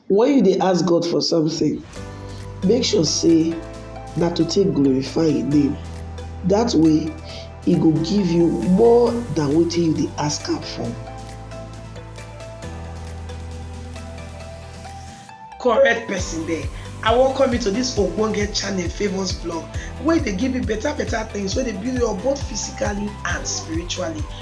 Wen you dey ask God for something, make sure say na to take glorify im name, dat way e go give you more than wetin you dey ask am for. correct person there i welcome you to this ogbonge channel favours blog wey dey give you better better things wey dey build you up both physically and spiritually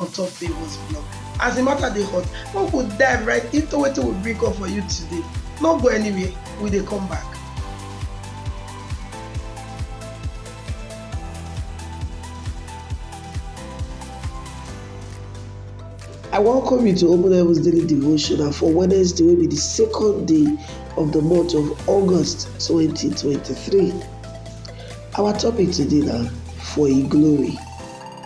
on top Favour's blog. As the matter dey hot, we go dive right into wetin we bring come for you today. No go anywhere, we dey come back. I welcome you to Open Heavens Daily Devotion and for Wednesday will be the second day of the month of August 2023. Our topic today now for a glory.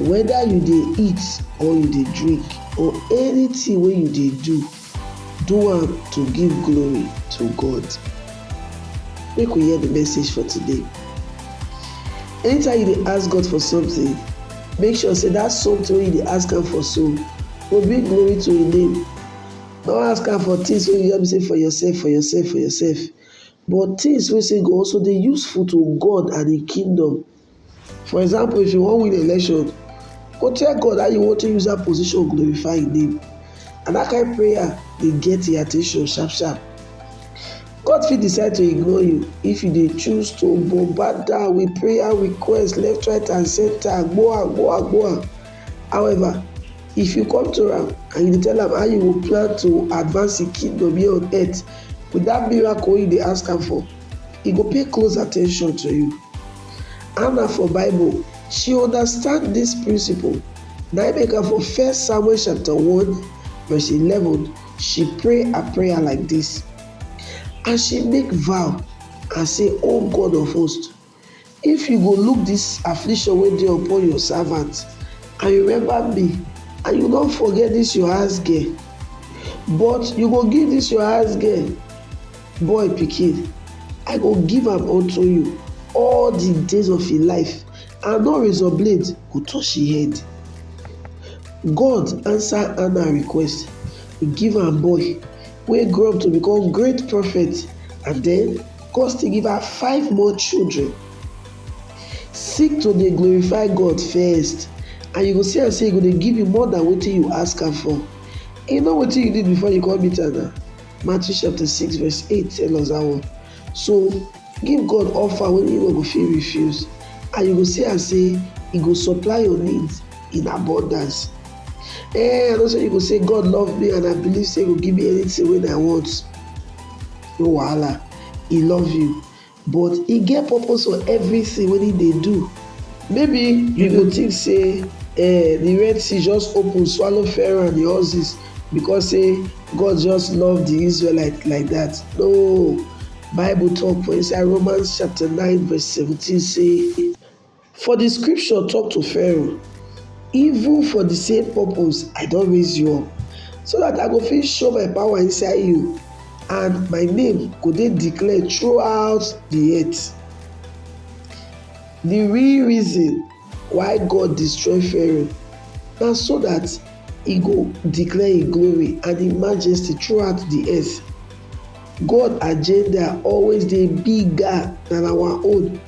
whether you dey eat or you dey drink or anything wey you dey do, do am to give glory to God. Make we hear the message for today. Anytime you dey ask God for something, make sure say that something wey you dey ask am for so go bring glory to im name. No ask am for things wey you just be say for yourself, for yourself, for yourself, but things wey say go also dey useful to God and im kingdom For example, if you wan win election, go tell God how you wan take use that position glorify Him name. And that kind prayer dey get Him attention sharp sharp. God fit decide to ignore you if you dey choose to bombard down with prayer requests left, right, and center, agboa, agboa, agboa. However, if you come to am and you dey tell am how you go plan to advance Him kingdom here on earth with that miracle wey you dey ask am for, e go pay close attention to you. Anna for Bible, she understand this principle. Na im make am for First Samuel chapter one verse eleven, she pray her prayer like this, and she make vow and say, O God of hosts, If you go look dis affliction wey dey upon your servant, and remember me, and you no forget dis your house girl, but you go give dis your house girl boy pikin, I go give am unto you all di days of im life, and no razor blade go touch im head. God answer Anna request, e give am boy, wey grow up to become great prophet, and den. God still give her five more children. Seek to dey glorify God first and you go see am say e go dey give you more than wetin you ask am for. E know wetin you need before you come meet am na. Matthew chapter six verse eight tell us that one. So give God offer wey you no go fit refuse and you go see am say e go supply your needs in abundance. Eh, I know say you go say God love me and I believe say e go give me anything wey I want. no wahala e love you but e get purpose for everything wey e dey do maybe you go think say eh, the red sea just open swallow pharaoh and the horses because say god just love the israelites like that no bible talk for inside romans chapter 9 verse 17 say For di scripture tok to Pharaoh, Even for di same purpose I don raise you up, so dat I go fit show my power inside you and my name go dey declared throughout di earth. Di real reason why God destroy Pharaoh na so dat e go declare im glory and im majesty throughout di earth. God agenda always dey bigger than our own.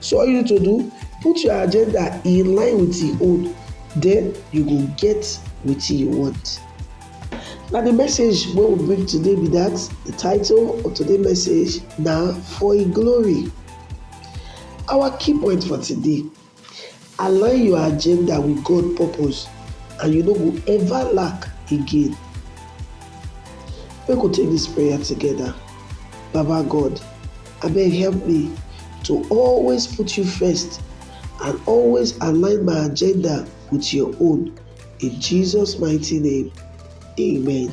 So all you need to do, put your agenda in line with him own, then you go get wetin you want. Na the message wey we bring today be that. The title of today message na For Him Glory. Our key point for today Align your agenda with God purpose and you no go ever lack again. Make we take this prayer together. Baba God, abeg help me to always put you first and always align my agenda with your own. In Jesus' mighty name, amen.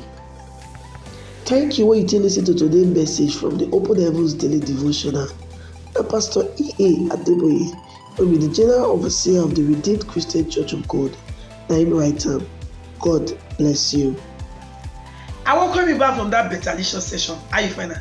Thank you when you take listen to today's message from the Open Heavens Daily Devotional. Na Pastor E.A. Adeboye, wey be the General Overseer of the Redeemed Christian Church of God, na him write am. God bless you. I welcome you back from that better licious session. How you find am?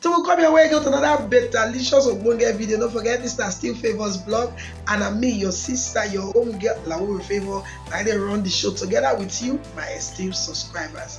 Till we come your way again with another betalicious ogbonge video. Don't forget this na still favours blog and na me your sister your home girl Lawo Favour na I dey run the show together with you my esteemed subscribers.